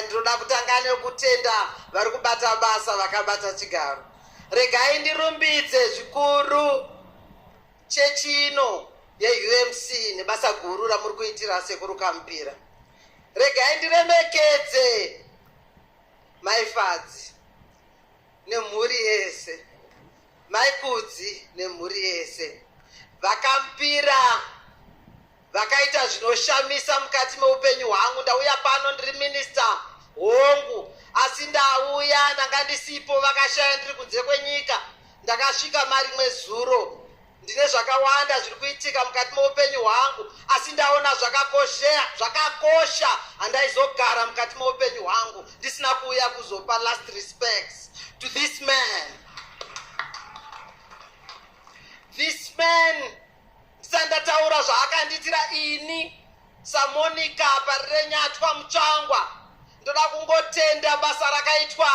Ndinoda kutanga nekutenda vari kubata basa vakabata chigaro. Regai ndirumbidze zvikuru chechi ino yeUMC nebasa guru ramuri kuitira sekuru Kampira. Regai ndiremekedze Mai Fadzi nemhuri yese, Mai Kudzi nemhuri yese, VaKampira vakaita zvinoshamisa mukati meupenyu hwangu ndauya pano ndiri minista hongu asi ndauya ndanga ndisipo vakashaya ndiri kunze kwenyika ndakasvika marimwe zuro ndine zvakawanda zviri kuitika mukati meupenyu hwangu asi ndaona zvakakoshea zvakakosha handaizogara mukati meupenyu hwangu ndisina kuuya kuzopa last respects to this man this man sendataura zvaakandiitira ini samonika parirenyatwa mutsvangwa ndoda kungotenda basa rakaitwa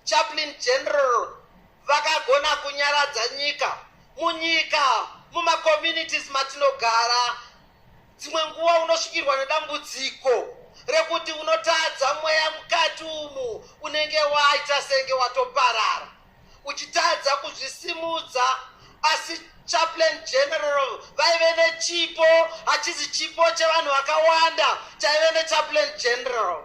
chaplin general vakagona kunyaradza nyika munyika mumacommunities matinogara dzimwe nguva unosvikirwa nedambudziko rekuti unotadza mweya mukati umu unenge waita senge watoparara uchitadza kuzvisimudza asi chaplain general vaive nechipo hachizi chipo chevanhu vakawanda chaive nechaplain general